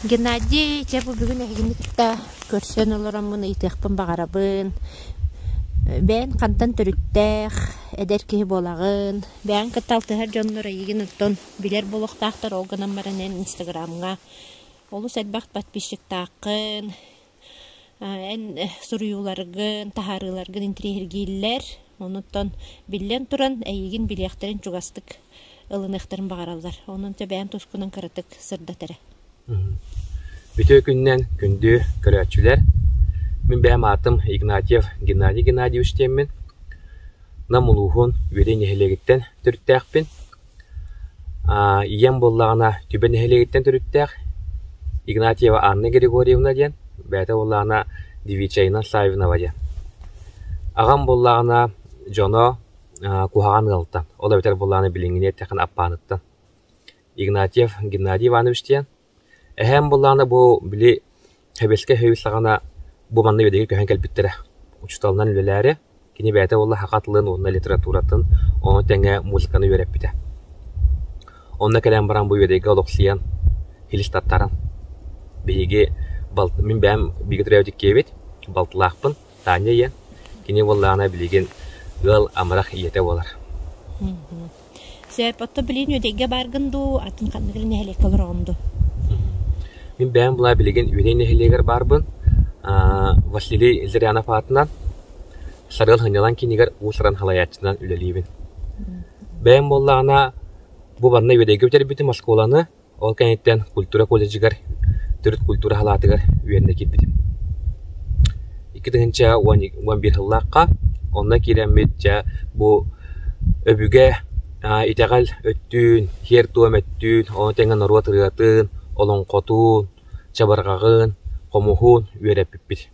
Геннадий, чэ бу бүгүн эһигини кытта көрсөн олороммун ыйытыахпын баҕарабын. Бэйэҥ хантан төрүттээх, эдэр киһи буолаҕын, бэйэҥ кытта алтыһар дьоннор эйигин оттон билэр буолуохтаахтар, ол гынан баран эн инстаграмҥа олус элбэх подписчиктааххын, Эн суруйууларгын, таһаарыыларгын интириэһиргииллэр. Онуттан биллэн туран, эйигин билиэхтэрин чугастык ылыныахтарын баҕараллар. Онон бэйэм тускунан кыратык сырдат эрэ. Үтүөкүннэн күндү көрөөччүлэр, мин бэйэм аатым Игнатьев Геннадий Геннадьевич диэммин. Нам улууһун Үөдэй нэһилиэгиттэн төрүттээхпин. ийэм буоллаҕына Түбэ нэһилиэгиттэн төрүттээх Игнатьева Анна Григорьевна диэн, бэйэтэ буоллаҕына Девичайна Славинова диэн. Аҕам буоллаҕына дьоно куһаҕан ыалтан, ол эбэтэр буоллаҕына билиҥҥини эттэххинэ Аппааныттан. Игнатьев Геннадий Иванович диэн Эһээм былаана бу, били, Хэбилскэ өһүөл саҕана бу манна үөдэги көһөн кэлбиттэрэ. Учууталынан үлэлээри, кини бэйэтэ уолла саха тылын уонна литературатын, ону тэҥэ музыканы үөрэппитэ. Онно кэлэн баран бу үөдэйгэ олохсуйан, илис тартаран, биһиги балт- мин бэйэм бииргэ төрөөбүт иккиэбит, балтылаахпын Таня ийэ, кини уоллаана билигин ыал амарах ийэтэ буолар. Сээп, отто билигин үөдэйгэ бааргын дуу, атын ханныгар нэһилиэккэ олороҕун дуу? Мин бэйэм былаа билигин Үөнэй нэһилиэгэр баарбын. Василий Зырянов аатынан Сарыал Ханьялан киинигэр уус-уран салайааччынан үлэлиибин. Бэйэм буоллаҕына, бу манна Үөдэйгэ бүтэрбитим оскуоланы, Ол кэнниттэн культура колледжыгар төрүт культура салаатыгар үөрэнэ киирбитим. Икки тыһыынча уон биир сыллаахха онно киирэммит дьэ бу өбүгэ итэҕэл өттүн, сиэр-туом өттүн, ону тэҥэ норуот ырыатын, олоҥхотун, чабырҕаҕын, хомуһун үөрэппиппит.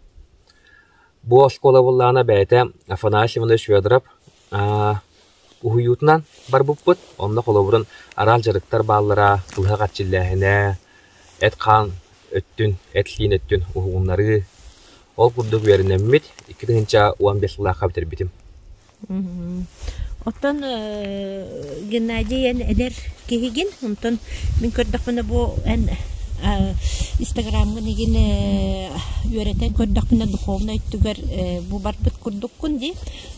Бу оскуола буоллаҕына бэйэтэ Афанасий Иванович Федоров Уһуйуутунан барбыппыт, онно холобурун араал дьарыктар бааллара, быһа хаччиллээһинэ, эт-хаан өттүн, эт-сиин өттүн уһугуннарыы. Ол курдук үөрэнэммит икки тыһыынча уон биэс сыллаахха бүтэрбитим. Оттон Геннадий эн эдэр киһигин, онтон мин көрдөхпүнэ бу эн Инстаграмгын игин үөрэтэн көрдөхпүнэ духовнай өттүгэр бу барбыт курдуккун дии.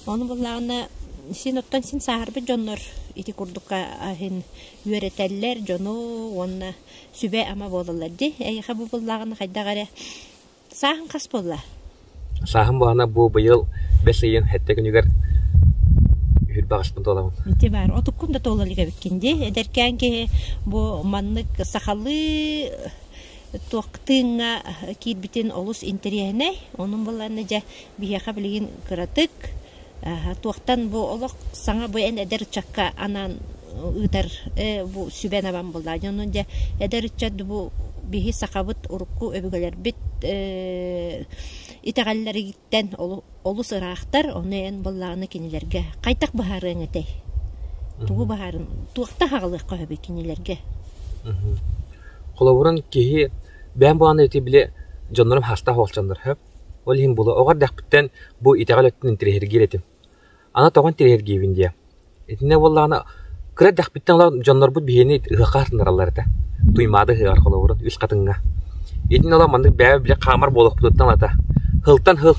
Ону буллаҕына син оттон син сааһырбыт дьоннор ити курдукка аһын үөрэтэллэр дьону уонна сүбэ-ама буолаллар дии эйиэхэ бу буллааҕына хайдах эрэ сааһын хас буолла сааһым баана бу быйыл бэс ыйын хэттэ күнүгэр үһүр баҕаспын туоламмын ити баар отуккун да туола илик эбиккин дии эдэркээн киһи бу маннык сахалыы туох тыыҥҥа киирбитин олус интэриэһинэй онон буллаанна дьэ биһиэхэ билигин кыратык Туохтан бу олох саҥа бу эн эдэр ыччакка анаан ыытар бу сүбэ набан буоллаҕа дии. Ону дьэ эдэр ыччат бу биһи сахабыт урукку өбүгэлэрбит итэҕэллэриттэн олус ыраахтар. Ону эн буоллаҕына кинилэргэ хайдах быһаарыаҥ этэй? Тугу быһаарыҥ? Туохта саҕалыахха сөбүй кинилэргэ? Холобурун киһи бэйэм буолаанда ити били дьоннорум хаастаах уолчаннар Ол иһин була оҕо эрдэхпиттэн бу итэҕэл өттүн интэриэһиргиир этим. Аны тоҕо интэриэһиргиибин диэ, итиннэ буоллаҕына, кыра эрдэхпиттэн олох дьоннорбут биһиэни ыһыахха ытыннараллар этэ, Туймаада ыһыаҕар холобурун үс хатыҥҥа. Итин олох маннык бэйэбэр били хаамар буолуохпутуттан ылата. Һылтан һыл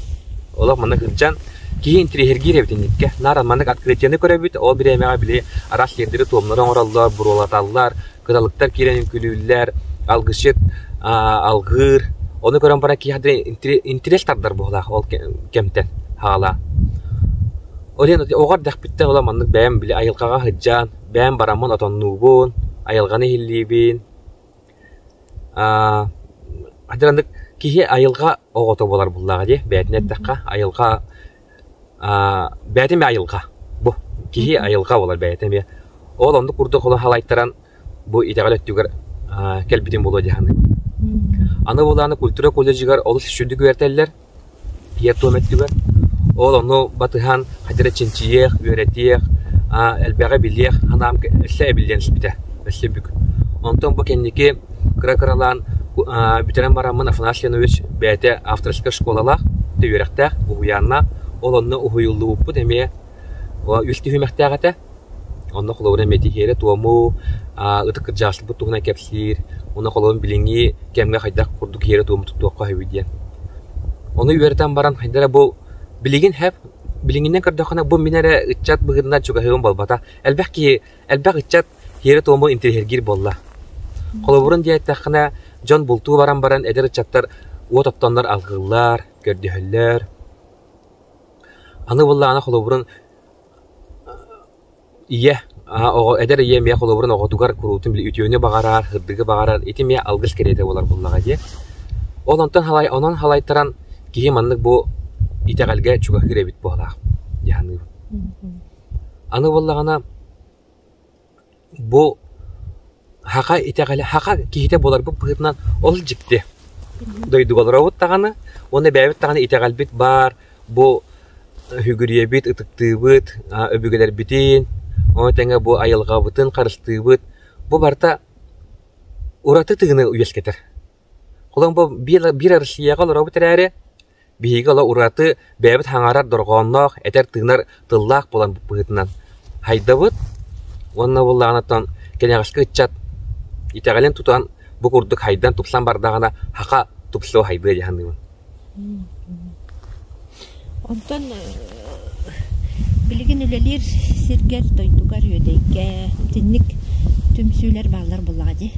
олох маннык сылдьан, киһи интэриэһиргиир эбит инникитэ. Наар маннык открытияны көрөбүт, ол бириэмэҕэ били араас сиэрдэри-туомнары оҥороллор, буруолаталлар, кыралыктар киирэн үҥкүүлүүллэр, алгысчыт алҕыыр. Ону көрөн баран киһи интирес тардар быһылаах ол кэмтэн хаалаа. Олен оҕо эрдэхпиттэн оло маннык бэйэм били айылҕаҕа сыдьаан, бэйэм бараммын отоннуубун, айылҕаны иһиллиибин. Аа, хатыраннык киһи айылҕа оҕото буолар буллаҕа дии. Бэйэтин эттэххэ, айылҕа аа, бэйэтин бэйэ айылҕа. Бу киһи айылҕа буолар бэйэтэ эмиэ. Ол оннук курдук оло халайтаран бу итэҕэл өттүгэр аа, кэлбитин буолуо дии саныыбын. Аны буолааны культура колледжыгар олус сүрдүк үөрэтэллэр, ийэр туом өттүгэр. Ол ону батыһан хадыра чинчийиэх, үөрэтиэх, аа, элбэҕи билиэх, анаам өссө эбиллиэн сүбүтэ, өссө бүк. Онтон бу кэнники кыра-кыралаан бүтэрэн бараммын Афанасий Иванович бэйэтэ авторскай школалаах, үөрэхтээх, уһуйааннаах, ол онно уһуйуллубуппут эмиэ үс түһүмэхтээх этэ. Онно холобура эмиэ тиһиэри-туому, ытык кырдьаҕастарбыт туһунан кэпсиир, уонна холобур билиҥҥи кэмҥэ хайдах курдук тиһиэри-туому туттуохха үһүүй диэн. Ону үөрэтэн баран хайда эрэ бу билигин һэп билиҥҥинэн көрдөххүнэ бу мин эрэ ыччат быһыытынан чугаһыыбын буолбата. Элбэх киһи, элбэх ыччат иэрэ-туому интириэһиргиир буолла. Холобурун диэттэххинэ, дьон бултуу баран баран эдэр ыччаттар уот оттоннор алгыллар, көрдөһөллөр. Аны буоллаҕына холобурун ийэ оҕо эдэр ийэ эмиэ холобурун оҕотугар куруутун үтүөнү баҕарар, ырдыгы баҕарар ити эмиэ алгыс кэриэтэ буолар буоллаҕа дии. Ол онтон халай онон халайтаран киһи маннык бу итэҕэлгэ чугаһыыр эбит буолаах дии саныыбын. Аны буоллаҕына Бу һаха итэҕэлэ һаха киһитэ буоларбыт быһыытынан ол дьикти дойдугаларобут даҕаны уонна эбээбит даҕаны итэҕэлбит баар бу үһүгүрүйэбит ытыктыыбыт өбүгэлэрбитин ону тэҥэ бу айылҕабытын харыстыыбыт бу барыта ураты тыыны үөскэтэр. Холобур биир Россияҕа олоробут эрээри Биһиги ыла ураты, бэйэбит хаҥарар дорҕоонноох, этэр-тыынар тыллаах буолан быһыытынан хайдабыт уонна буоллаҕына кэнэҕэски ыччат итэҕэлин тутан бу курдук хайдан тупсан бардаҕына хаха тупсуо хайдыа дии саныыбын Онтон билигин үлэлиир сиргэр, дойдугар, Үөдэйгэ итинник түмсүүлэр бааллар буоллаҕа дии.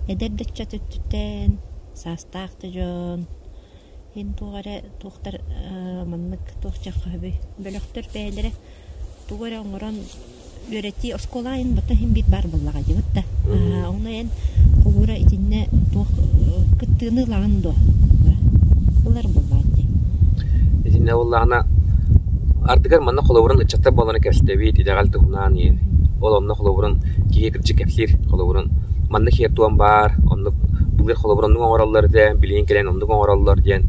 Эдэр да ыччат өттүттэн, саастаах да дьон Эн туох эрэ туохтар маннык туох дьаххаһыбый бөлөхтөр бэйэлэрэ тугу эрэ оҥорон үөрэтии оскуола айан бата иһин биир баар буоллаҕа дьыбыт да онно эн холуура итиннэ туох кыттыыны ылаҕын дуо ылар буоллаҕа дии итиннэ буоллаҕына ардыгар манна холобурун ыччаттар буоллаҕына кэпсэтэбит итэҕэл туһунан иһин ол онно холобурун киһи кырдьык кэпсиир холобурун манна киһи туом баар холобуру оннук оҥороллор этэ, билигин кэлэн оннук оҥороллор диэн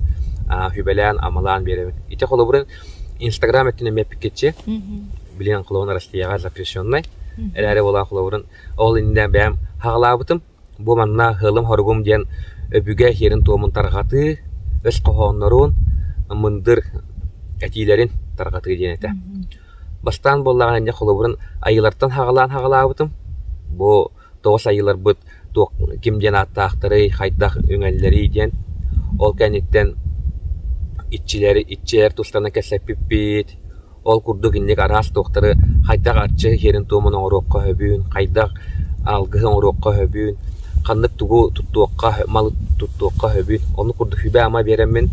сүбэлээн, амалаан биэрэбин. Ити холобуру Инстаграм өттүнэн мэппиккитчи, билигин холобурун Россияҕа запрещеннай, эрээри буолаан холобурун ол иннинэ бэйэм хаҕалаабытым, бу манна сыалым-хоругум диэн өбүгэ сиэрин-туомун тарҕатыы, өс хоһооннорун, мындыр этиилэрин тарҕатыы диэн этэ. Бастаан буоллаҕына инньэ холобурун айыылартан хаҕалаан хаҕалаабытым. Бу тоҕус айыыларбыт туох ким диэн ааттаахтарый, хайдах үҥэллэрий диэн. Ол кэнниттэн иччилэр иччилэр тустарынан кэпсэппиппит. Ол курдук инник араас туохтары хайдах арчы иһэрин-туомун оҥоруохха сөбүн, хайдах алгыһы оҥоруохха сөбүн, ханнык тугу туттуохха, малы туттуохха сөбүн. Оннук курдук сүбэ-ама биэрэммин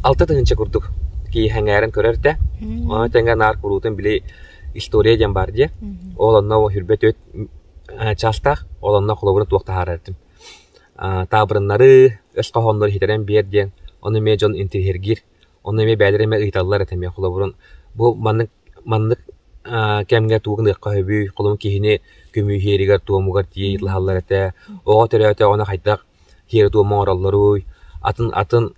алта тыһыынча курдук киһи сэҥээрэн көрөр этэ. Ону тэҥэ наар куруутун били история диэн баар диэ. Ол онно сүүрбэ чаастаах, ол онно холобура туох таһаарар этим. таабырыннары, өс хоһооннору иһитэрэн биэр диэн, ону эмиэ дьон интириһиргиир, ону эмиэ бэйэлэрэ эмиэ ыйыталлар этэ эмиэ холобурун. Бу маннык маннык кэмҥэ тугу гыныахха сөбүй, холобур киһини көмүһүөрүгэр-туомугар тиийэ ыйытылаһаллар этэ, оҕо төрөөтө ону хайдах тиэрэ-туома оҥороллоруй, атын атын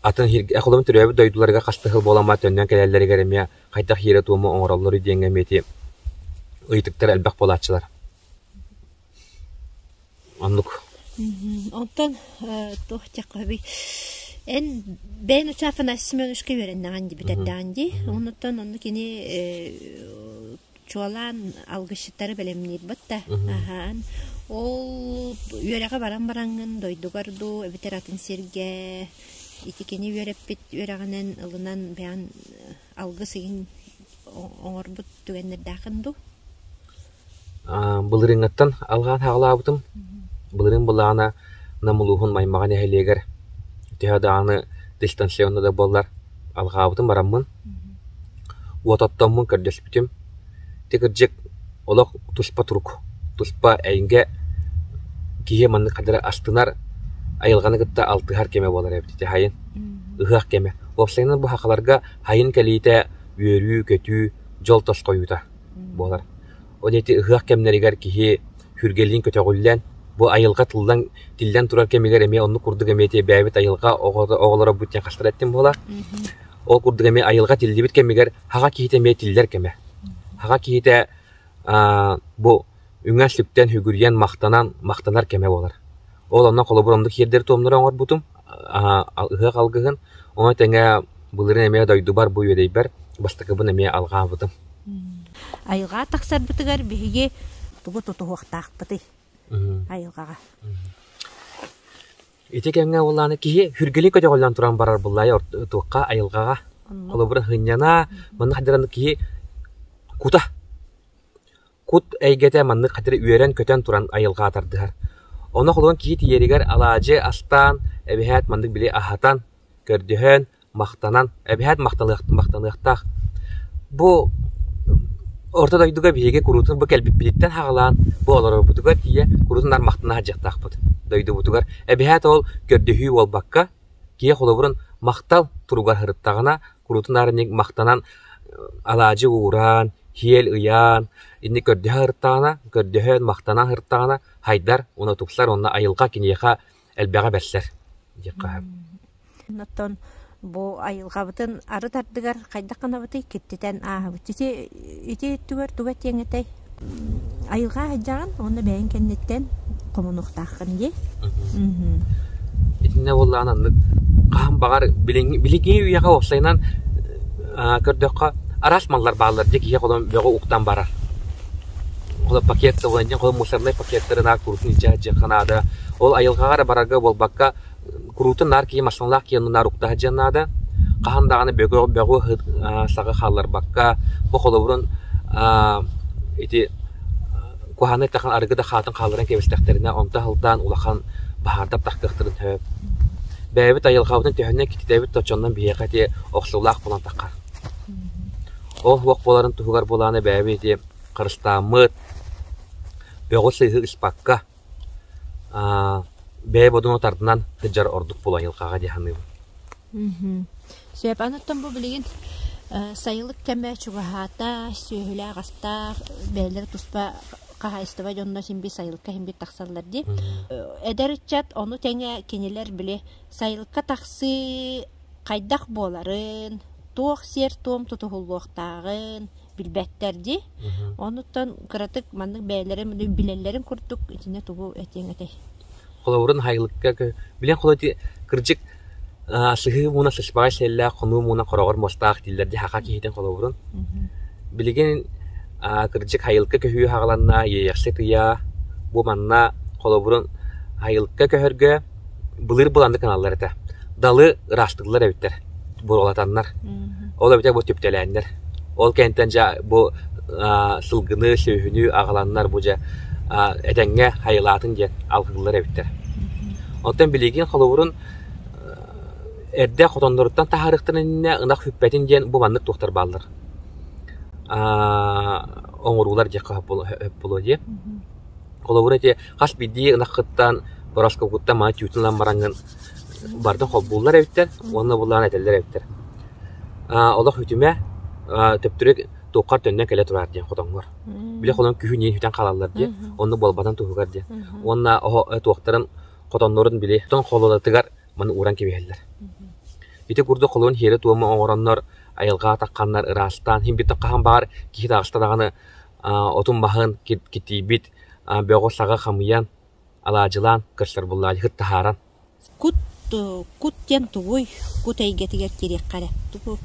атын холобур төрөөбүт дойдуларыгар хастыһыл буолан төннөн кэлэллэригэр эмиэ хайдах иэрэ-туому оҥороллору диэҥҥэ эмиэ ыйытыктар элбэх буолааччылар. Оннук. Оттон туох диэххэ эн бэйэн учаапын Ася Семеновичка үөрэннэҕин дии бүтэрдэҕин дии. Онуттан онно кини чуолаан алгысчыттары бэлэмниирбит да аһаан ол үөрэҕи баран бараҥҥын дойдугар дуу эбэтэр атын сиргэ ити кини үөрэппит үөрэҕинэн ылынан бэйэн алгыс игин оҥорбут түгэннэрдээхин дуу былырыыҥҥаттан алҕаан хаалаабытым былырыын былаана Нам улууһун Маймаҕа нэһилиэгэр төһө даҕаны дистанционно да буоллар Алҕаабытын бараммын, уот оттоммун көрдөспүтүм, ити кырдьык олох туспа турук, туспа эйгэ киһи маннык хадары астынар, айылҕаны кытта алтыһар кэмэ буолара эбит ити сайын. Ыһыах кэмэ. Уопсайынан бу сахаларга сайын кэлиитэ үөрүү-көтүү, дьол-тосхойуута буолар. Ол диэки ыһыах кэмнэригэр киһи сүргэлиин көтөҕүллэн, бу айылҕа тыллан, тиллэн турар кэмигэр эмиэ оннук курдук эмиэ тиэйбээбит айылҕа оҕото, оҕолорбут диэн хастар этим буолар. Ол курдук эмиэ айылҕа тиллибит кэмигэр хаҕа киһитэ эмиэ тиллэр кэмэ. Хаҕа киһитэ аа, бу үҥэн-сүктэн, үгүрүйэн, махтанан, махтанар кэмэ буолар. Ол онно холобур оннук тиэрдэри-туомнары оҥорбутум. ыһыах алгыһын, ону тэҥэ былырыын эмиэ дойдубар бу үөдэйбэр бастакыбын эмиэ алҕаабытым. Айылҕа тахсарбытыгар биһиги тугу тутуһуохтаахпытый айылҕаҕа? Ити кэмҥэ ол ааны киһи хүргэлии көтөҕүллэн туран барар быллайа туохха айылҕаҕа. Холобура, һынньана, маннык дьараны киһи кута. кут эйгэтэ маннык хатыра үөрэн-көтөн туран айылҕаҕа тардыһар. Ону холобур киһи тиийэригэр алаадьы астаан, эбэһээт маннык били аһатан, көрдөһөн, махтанан, эбэһээт махтаныахтаах. Бу орто дойдуга биһиги куруутун бу кэлбиппититтэн хаҕылаан, бу олорорбутугар тиийэ куруутун наар махтана садьыахтаахпыт. Дойдубутугар эбэһээт ол көрдөһүү буолбакка, киһи холобурун махтал туругар сырыттаҕына, куруутун арынньык махтанан алаадьы ууран, һиэл ыйаан, инник көрдөһө ырыттаҕына, көрдөһөн, махтанан ырыттаҕына, хайдар уонна тупсар уонна айылҕа киниэхэ элбэҕи бэрсэр диэх хаһан. Оттон бу айылҕабытын ары тардыгар хайдах гынабытый киртитэн ааһабыт. Ити ити өттүгэр туга этиэҥ этэй айылҕа айдьаҕын уонна бэйэҥ кэнниттэн хомунуохтааххын дии итиннэ буоллаҕына аннык хаһан баҕар билиҥҥи үйэҕэ уопсайынан көрдөххө араас маллар бааллар дьэ киһи холом бөҕө уктан барар ол пакет ылан дьэ холом мусорнай пакеттары наак курутун илдьэ дьыхха наада ол айылҕаҕа эрэ барарга буолбакка Куруутун наар киһи массыыналаах киһи наар уктаһа диэн наада. Хаһан даҕаны бөҕү-саҕы хаалларбакка бу холобурун ити куһаанай тахан арыгы да хаатын хаалларан кэбистэхтэринэ онто аһылдаан улахан баһаардап тахтыахтарын сөп. Бэйэбит айылҕабытын төһөннөн кититэбит оччонон биһиэхэ ити охсуулаах буолан таххар. Оһ-уох буоларын туһугар буолааны бэйэбит ити харыстааммыт, бөҕү-сыыһы ыспакка бэйэ бодону тардынан сылдьар ордук булайылкаҕа дии саныыбын Сөп. Аныттан бу билигин э, сайылык кэмэ чугаһаата, сүөһүлээх астаах, бэйэлэрэ туспа хаһаайыстыба дьонно симби сайылыкка симбит тахсаллар дии. Э, эдэр ыччат ону тэҥэ кинилэр били сайылыкка тахсыы хайдах буоларын, туох сиэр-туом тутуһуллуохтааҕын, билбэттэр дии. Онуттан кыратык маннык бэйэлэрим билэллэрин курдук итиннэ тугу этиэҥ этэй? Холобурун хайылыкка билэн холо кырдьык сыһыы мууна сыспаҕай сэллээх хонуу мууна хороҕор мустаах дииллэр ди хаха киһитин холобурун. Билигин кырдьык хайылыкка көһүү хагаланна, иэйэхси тыйаа бу манна холобурун хайылыкка көһөргө былыр былааннык гыналлар этэ. Далы ыраастыыллар эбиттэр, буруолатаннар. Ол эбэтэр бу түптэлээннэр. Ол кэнниттэн дьэ бу аа, сылгыны, сүөһүнү аҕаланнар бу дьэ аа, этэҥҥэ хайылаатын диэн алгыыллар эбиттэр. Оттон билигин холобурун э, эрдэ хотонноруттан таһаарыахтарын иннинэ ынах сүппэтин диэн бу маннык туохтар бааллар. Аа, оҥоруулар диэххэ сөп буолуо- сөп буолуо дии. Холобура ити хас биирдии ынаххыттан, бороскуокуттан маҥан тиютун ылан бараҥҥын барытын холбууллар эбиттэр уонна булларан этэллэр эбиттэр. Аа олох үтүмэ, аа төптөрү туоххар төннөн кэлэ тураар диэн хотоҥҥор. Били холон күһүн иһин сүтэн хаалаллар диye, онно буолбатан туһугар диye. Уонна оһо туохтарын хотоннорун били тоҥ холуодатыгар маны ууран кэбиһэллэр. Ити курдук холуун иһиэри туома оҥороннор, айылҕа атахханнар ыраастаан, иһин биттэн хаһан баҕар киһи таҕыста даҕаны отун баһан китийбит, бөҕү-саҕы хамыйан, алаадьылаан, кырсарбыллаадьыһыт таһааран Кут кут диэн тугуй? Кут эйгэтигэр киириэххэ эрэ. Тугу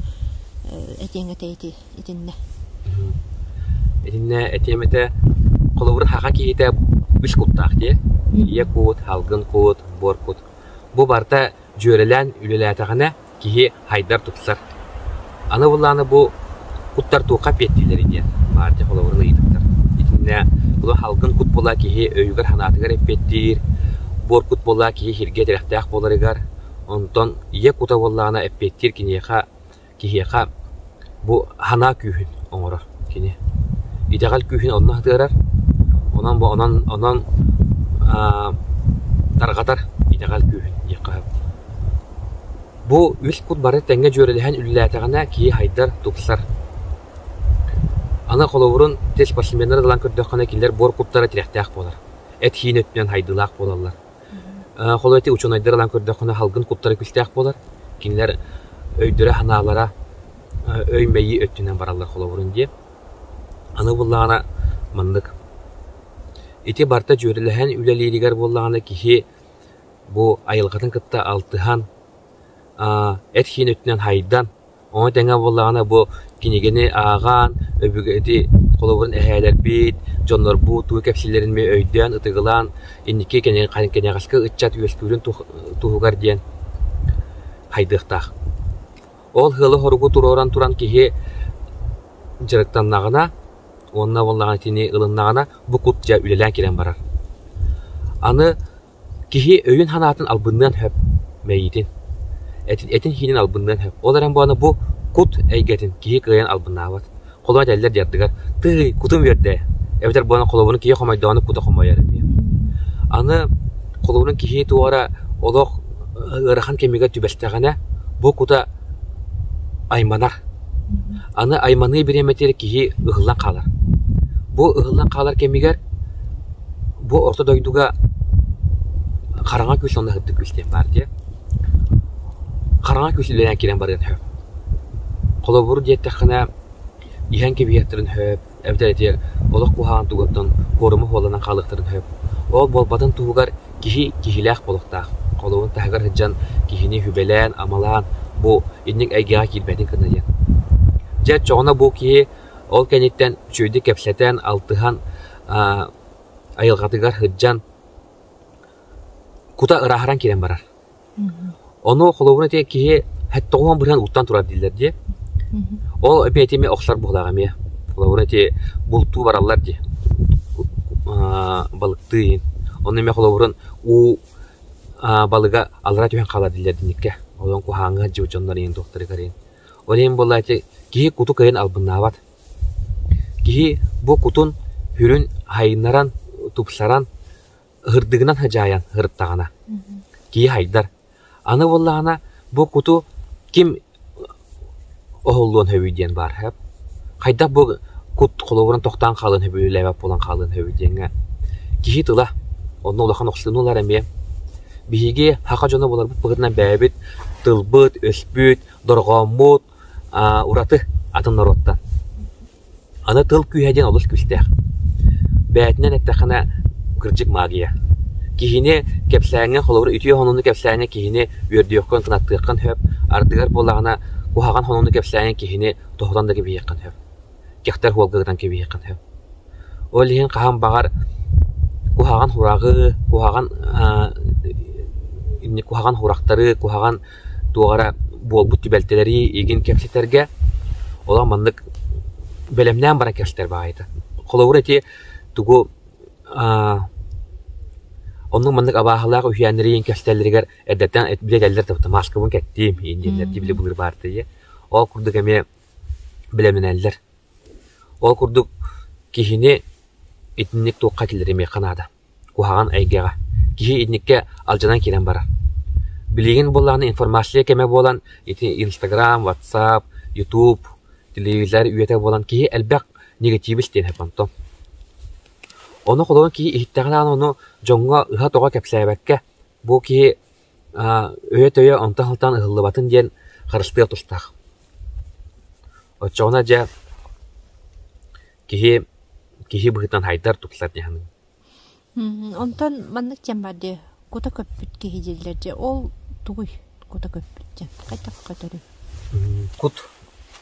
этиэҥ этэй ити итиннэ? Итиннэ этиэм этэ холобур саха киһитэ үс куттаах дии. Ийэ кут, алгын кут, буор кут. Бу барыта дьүөрэлээн үлэлээтэҕинэ киһи хайдар тупсар. Аны былааны бу куттар туохха эппиэттииллэрий диэн баар дьэ холобурун ыйытыктар. Итиннэ бу салгын кут була киһи өйүгэр-санаатыгар эппиэттиир, буор кут була киһи сиргэ тирэхтээх буоларыгар, онтон ийэ кута буоллаҕына эппиэттиир киниэхэ, киһиэхэ Бу санаа күүһүн оҥорор кини. Итэҕэл күүһүн онно атыарар, онон бу онон онон аа тарҕатар итэҕэл күүһүн диэххэ сөп. Бу үс кут бары тэҥҥэ дьүөрэлэһэн үлэлээтэҕинэ киһи сайдар, тупсар. Аны холобурун тел спортсменнары ылан көрдөххүнэ кинилэр буор куттара тирэхтээх буолар, эт-иин өттүнэн сайдыылаах буолаллар. Холобур, ити учуонайдар ылан көрдөххүнэ салгын куттара күүстээх буолар. Кинилэр өйдөрө-санаалара өй-мэйии өттүнэн бараллар холобурун диэ. Аны буоллаҕына маннык. Ити барыта дьүөрэлэһэн үлэлииригэр буоллаҕына киһи бу айылҕатын кытта алтыһан, эт-хиин өттүнэн хайдан, Ону тэҥэ буоллаҕына бу кинигэни ааҕан, өбүгэти холобурун эһээлэрбит, дьоннорбут тугу кэпсииллэрин эмиэ өйдөөн, ытыгылаан, инники кэнyaҕаска ыччат үөскүүрүн туһугар диэн хайдыахтаах. Ол сыалы-соругу туруоран туран киһи дьарыктаннаҕына уонна буоллаҕына итини ылыннаҕына бу кут дьэ үлэлээн кэлэн барар. Аны Киһи өйүн-санаатын албынныан сөп, мэйиитин, этин-сиинин албынныан сөп. Ол эрэн буоллаҕына бу кут эйгэтин киһи кыайан албыннаабат. Холоо этэллэр дьардыгар «Тыый, кутум үөрдэ» эбэтэр буолан холобурун киһи хомойдоҕуна кута хомойор эмиэ. Аны холобурун киһи туора олох ыарахан кэмигэр түбэстэҕинэ бу кута айманар. Аны айманыы бириэмэтигэр киһи ыһыллан хаалар. Бу ыһыллан хаалар кэмигэр Бу орто дойдуга хараҥа көс уонна сырдык көс диэн баар дии. Хараҥа көс үлэлээн киирэн барыан сөп. Холобур диэттэххинэ, иһэн кэбиһиэхтэрин сөп, эбэтэр ити олох куһаҕан тугуттан куоруму куоланан хаалыахтарын сөп. Ол буолбатын туһугар киһи киһилээх буолуохтаах. Холобур таһыгар сылдьан киһини сүбэлээн, амалаан бу инник эйгэҕэ киирбэтин кытта диэн. Дьэ, оччоҕуна бу киһи Ол кэнниттэн үчүгэйдик кэпсэтэн, алтыһан, айылҕатыгар сылдьан кута ырааһыран киирэн барар. Ону холобура итиэннэ киһи тоҕуһан быһан уттан турар дииллэр дии. Ол эбии этиэмэ охсор буулаах эмиэ. Холобура ити бултуу бараллар дии. Балыктыы иин. Ону эмиэ холобурун уу балыга алара түһэн хаалар дииллэр динниккэ. Олон куһааҥҥы сдьулдьоннор иин, туохтарыгар иин. Ол иһин буоллааччы киһи куту кыайан албыннаабат. Киһи бу кутун сүрүн хайыннаран, тупсаран, ыһырдыгынан садьаайан сырыттаҕына, киһи хайдар. Аны буоллаҕына бу куту ким оһоллуон сөбүй диэн баар сөп. Хайдах бу кут холобуран тохтоон хаалыан сөбүй, үлэлээбэт буолан хаалыан сөбүй диэҥҥэ киһи тыла онно улахан охсуну ылар эмиэ. Биһиги саха дьоно буоларбыт быһыытынан бэйэбит тылбыт, өспүт, дорҕооммут ураты атын норуоттан. Аны тыл күүһэ диэн олус күүстээх. Бээтинэн эттэххинэ, кырдьык магия. Киһини кэпсээҥҥэ, холобур, үтүө хонууну кэпсээҥҥэ киһини үөрдүөххүн, кынаттыаххын сөп. Ардыгар буоллаҕына, куһаҕан хонууну кэпсээҥҥэ киһини тоһутан да кэбиһиэххин сөп. Кэхтэр уолга ытан кэбиһиэххин сөп. Ол иһин хаһан баҕар куһаҕан хураҕы, куһаҕан куһаҕан хурахтары, куһаҕан туох эрэ буолбут түбэлтэлэри игин кэпсэтэргэ, олох маннык бэлэмнээн баран кэпсэтэр баҕайыта. Холобура ити тугу аа оннук маннык абааһылаах үһээннэри иин кэпсэтэллэригэр эрдэттэн билэ этэллэр табыта маскабын кэттим, иин диэннэр ти били былыр баартыйа. Ол курдук эмиэ бэлэмнэнэллэр. Ол курдук киһини итинник туохха киллэримиэххэ наада. Куһаҕан эйгэҕэ, киһи инникитэ алдьанан киирэн барар. Билигин буоллаҕына информация кэмэ буолан, ити Инстаграм, WhatsApp, YouTube, телевизор үйэтэ буолан киһи элбэх негативис диэн онтон. Ону холобур киһи иһиттэҕинэ аана ону дьоҥҥо ыһа-тоҕо кэпсээбэккэ Бу киһи өйө-төйө онто сылтаан ыһыллыбатын диэн харыстыа тустаах. Оччоҕуна дьэ киһи киһи быһыытынан хайдар тутулар дии саныыбын. Онтон маннык диэн баар дии, кута көппүт киһи дииллэр дии, ол тугуй? кута көппүччэ хайдах көтөрүй кут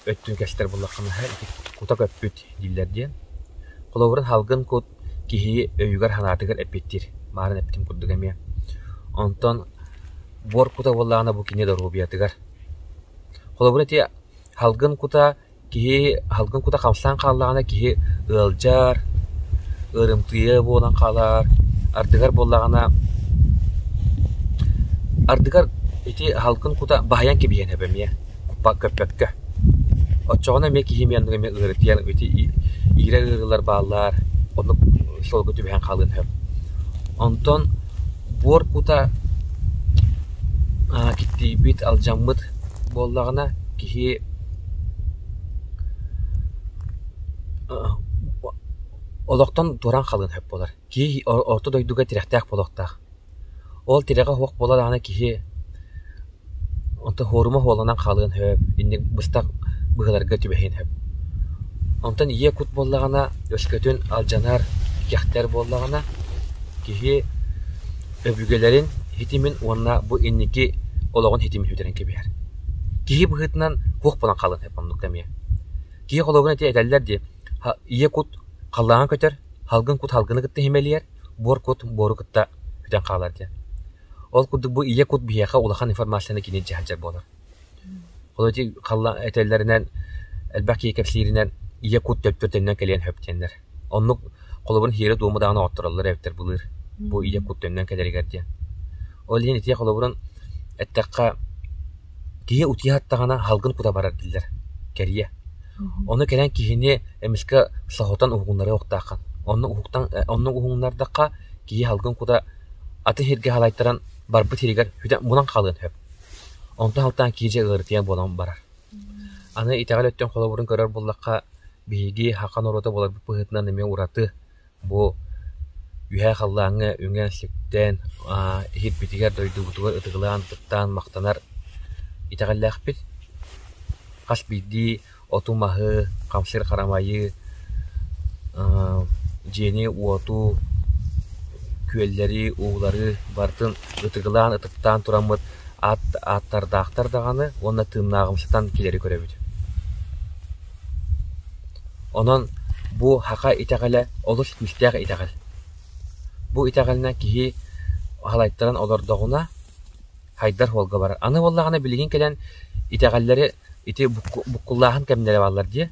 өттүн кэстэр буоллахха наһаа ити кута көппүт дииллэр диэн холобурун салгын кут киһи өйүгэр-санаатыгар эппиттиир мааран эппитим курдук эмиэ онтон буор кута буоллаҕына бу кини доруобуйатыгар холобура ити салгын кута Киһи аһылгын кута хамсаан хааллаҕына киһи ыалдьар, ыарымтыйа буолан хаалар, ардыгар буоллаҕына ардыгар ити аһылгын кута баһыйан кэбиһиэн сөп эмиэ көппөккө. Оччоҕуна эмиэ киһи эмиэ оннук эмиэ ыарытыйан ити иирэр ыарыылар бааллар, оннук сылгы түбэһэн хаалыан сөп. Онтон буор кута киттийбит, алдьаммыт буоллаҕына киһи Олохтон туораан хаалыан сөп буолар. Киһи орто дойдуга тирэхтээх буолуохтаах. Ол тирэҕэ суох буола даҕаны киһи онтон суорума суолланан хаалыан сөп, инник быстах быһыыларга түбэһиэн сөп. Онтон ийэ кут буоллаҕына өскөтүн алдьанар, кэхтэр буоллаҕына киһи өбүгэлэрин ситимин уонна бу инники олоҕун ситимин сүтэрэн кэбиһэр. Киһи быһыытынан туох буолан хаалыан сөп оннук эмиэ. Киһи холуогун ити этэллэр дии: ийэ кут халлааҥҥа көтөр, салгын кут салгыны кытта иһимэлийэр, буор кут буору кытта көтөн хаалар диэн. Ол курдук бу ийэ кут биһиэхэ улахан информацияны кини дьаһалдьар буолар. Ол ити этэллэринэн, элбэх киһи кэпсииринэн ийэ кут дьоттор төннөн кэлиэн сөп диэннэр. Оннук холобурун иһэрэ-дуома даҕаны оҕоттороллор эбиттэр былыр бу ийэ кут төннөн кэлэригэр диэн. Ол иһин итии холобурун эттэххэ, киһи утуйа саттаҕына салгын кута барар дииллэр, кэрийэ. Ону кэлэн киһини эмискэ соһутан уһугуннара суохтааххын. Онно уһуктан, онно уһугуннардахха киһи салгын кута аты сиргэ халайтаран барбыт сиригэр бүтэн мунан хаалыан сөп. Онтон сылтаан киһи дьэ ыарытыйан буолан барар. Аны итэҕэл өттүн холобурун көрөр буоллахха, биһиги саха норуота буоларбыт быһыытынан эмиэ ураты бу үһээ халлааҥҥа үҥэн, сиптээн иһирбитигэр, дойдубутугар ытыгылаан-ытыктаан махтанар итэҕэллээхпит. Хас биирдии оту-маһы, хамсыыр-харамайы, дьиэни-уоту, күөллэри, уулары барытын ытыгылаан ытыктаан тураммыт аат ааттардаахтар даҕаны уонна тыыннааҕымсытан килэри көрөбүт онон бу һака итэҕэлэ олус күүстээх итэҕэл бу итэҕэлинэн киһи халайтаран олордоҕуна хайдар уолга барар аны буоллаҕына билигин кэлэн итэҕэллэри ити буккуллааһын кэмнэрэ бааллар дии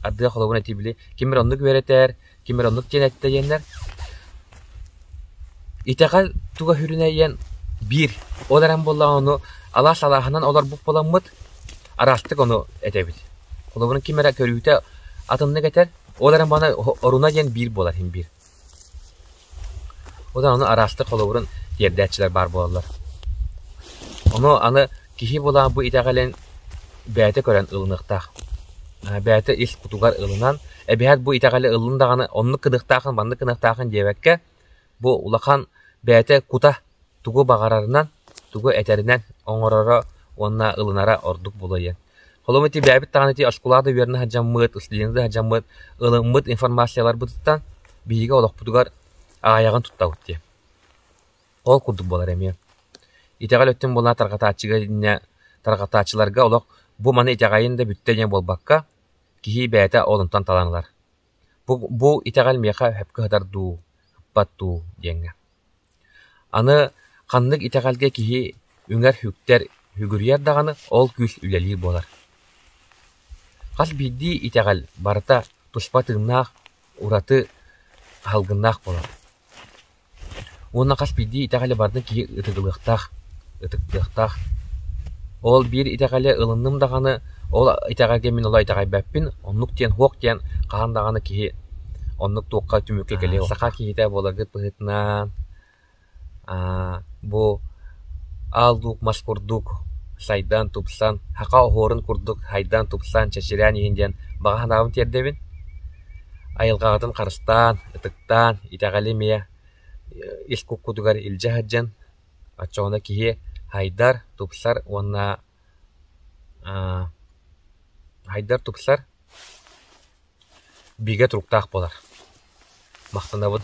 ардыгар холобур этии били ким эрэ оннук үөрэтэр Ким эрэ оннук диэн эттэйэннэр «Итэҕэл туга сүрүнэйиэн биир» ол эрэн буоллаҕына ону алаас алааһынан олорбут буоламмыт, араастык ону этэбит. Холобурун ким эрэ көрүүтэ атыннык этэр, ол эрэн маны оруна диэн биир буолар иһин биир. Бу даҕаны араастык холобурун тиэрдээччилэр баар буолаллар. Ону аны киһи былаах бу итэҕэлин бэйэтэ көрөн ылыныахтаах. Бэйэтэ ис кутугар ылынан, эбиһэт бу итэҕэли ыллын даҕаны, оннук гыныахтаахын, маннык гыныахтаахын диэбэккэ, бу улахан бэйэтэ кута тугу баҕарарынан, тугу этэринэн оҥороро уонна ылынара ордук булайыан. Холом этийбээбит даҕаны ити очкулаах да үөрэнэ сылдьаммыт, ыстуденты да сылдьаммыт, ылыммыт информацияларбытыттан биһиги олохпутугар аҕыйаҕын туттабыт дии. Ол курдук буолар эмиэ. Итэҕэл өттүн буолан тарҕатааччыга инньэ тарҕатааччыларга олох бу маны итэҕэйин да бүттэ диэн буолбакка, киһи бэйэтэ ол онтон талан ылар. Бу итэҕэл миэхэ өһөпкө сытар дуу, ыппат дуу диэҥҥэ. Аны ханнык итэҕэлгэ киһи үҥэр-үктэр, үгүрүйэр даҕаны, ол күүс үлэлиир буолар. Хас биирдии итэҕэл барыта туспа тыыннаах, ураты, аһылгыннаах буолар. Уонна хас биирдии итэҕэли барыта киһи ытыгылыахтаах, ытыктыахтаах. Ол биир итэҕэли ылынным даҕаны, ол итэҕэгэ мин ола итэҕэйбэппин, оннук диэн суох диэн хаһан даҕаны киһи оннук туохха түмүккэ кэлиэ. Саха киһитэ буоларгыт быһыытынан аа бу аал-дуук, мас курдук сайдан, тупсан, саха оһуорун курдук хайдаан, тупсан, чэчирээн иһин диэн баҕа санаабын тиэрдэбин. Айылҕаҕытын харыстаан, ытык Таан, итэҕэли эмиэ ис куккутугар илдьэ сылдьан, оччоҕуна киһи һайдар, тупсар уонна аа һайдар, тупсар, бигэ туруктаах буолар. Махтанабын.